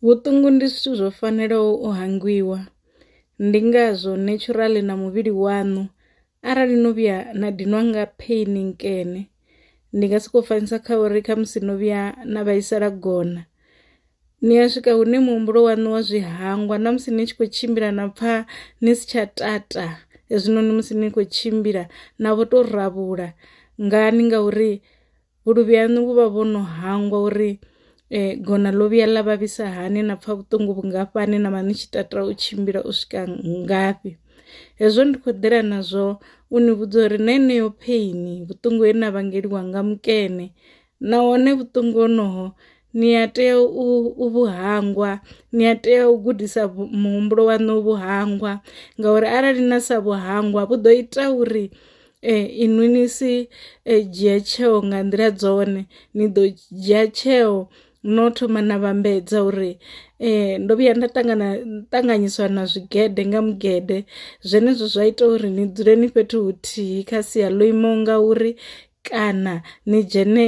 Vhuṱungu ndi zwithu zwo fanelaho u hangwiwa ndi ngazwo natural na muvhili waṋu arali no vhuya na dinwa nga pain nkene ndi nga soko fanisa kha uri khamusi no vhuya na vhaisala gona ni a swika hune muhumbulo waṋu wa zwi hangwa na musi ni tshi kho tshimbila na pfha ni si tsha tata hezwinoni musi ni kho tshimbila na vho to rabula ngani ngauri vhuluvhi haṋu vhu vha vho no hangwa uri gona ḽo vhuya ḽa vhavhisa hani na pfha vhuṱungu vhungafhani na vha ni tshi tata u tshimbila u swika ngafhi. Hezwo ndi khou ḓela nazwo u ni vhudza uri na heneyo pheini vhuṱungu he na vhangeliwa nga mukene nahone vhuṱungu honoho ni a tea u vhu hangwa, ni a tea u gudisa muhumbulo waṋu u vhu hangwa ngauri arali na sa vhu hangwa vhu ḓo ita uri Ee inwi ni si dzhia tsheo nga nḓila dzone ni ḓo dzhia tsheo no thoma na vhambedza uri ndo vhuya nda ṱangana ṱanganyiswa na zwigede nga mugede zwenezwo zwa ita uri ni dzule ni fhethu huthihi kha sia ḽo imaho nga uri kana ni dzhene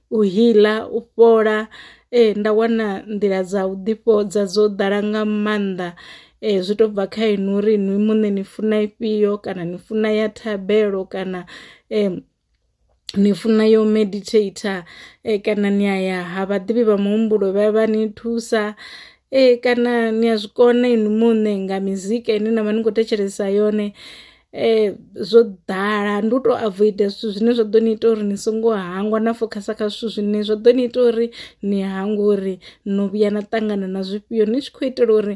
u healer, u fhola nda wana nḓila dza u ḓi fhodza dzo ḓala nga maanḓa zwi to bva kha inwi uri inwi muṋe ni funa ifhio kana ni funa ya thabelo kana ni funa yo meditator kana ni ya ya ha vhaḓivhi vha muhumbulo vha ya vha ni thusa. Ee kana ni a zwi kona inwi muṋe nga mizika ine na vha ni khou thetshelesa yone zwo ḓala ndi u tou avoida zwithu zwine zwa ḓo ni ita uri ni songo hangwa na fokhasa kha zwithu zwine zwa ḓo ni ita uri ni hangwe uri no vhuya na ṱangana na zwifhio ni tshi khou itela uri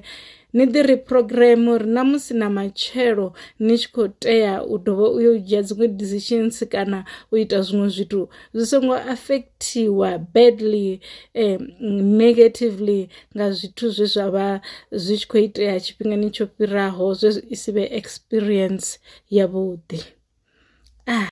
ni ḓi ri program uri na musi na matshelo ni tshi kho tea u dovha u yo dzhia dziṅwe decisions kana u ita zwiṅwe zwithu zwi songo affectiwa badly um negatively nga zwithu zwe zwa vha zwi tshi khou itea tshifhingani tsho fhiraho zwe zwi si vhe experience yavhuḓi ah.